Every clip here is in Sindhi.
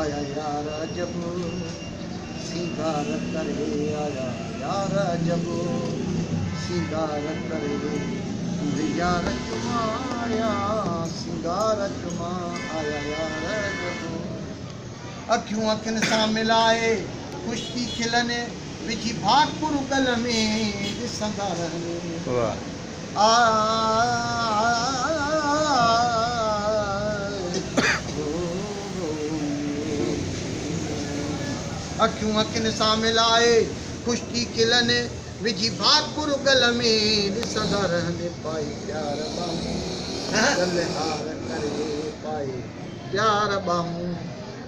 آيا يار عجب سينگار ڪري آيا يار عجب سينگار ڪري منهنجي يار چوما آيا سينگار چوما آيا يار عجب اکيون اکين سان ملائي خوش ٿي کلن وجهي ڀاڪر ڳل ۾ ڏسندا رهن. اکيون اکين سان ملائي خشڪي کلن وجهي ڀاڪر گل ۾ ڏسندا رهن پائي پيار ٻانهون گل هار ڪري پائي پيار ٻانهون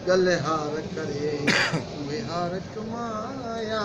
گل هار ڪري اهي هار چمايا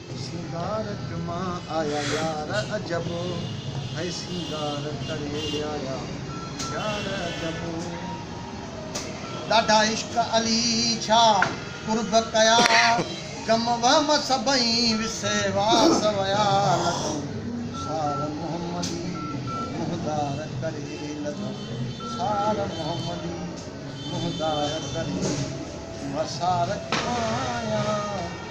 سينگار ٽمان آيا يار عجب هي سينگار ڪري آيا يار عجب. ڏاڍا عشق علي ڇا قرب ڪيا غم وهم سڀئي وسي واس ويا لڌم سار محمدي منهندار ڪري لڌم سار محمدي منهندار ڪري وسار ٽمان آيا.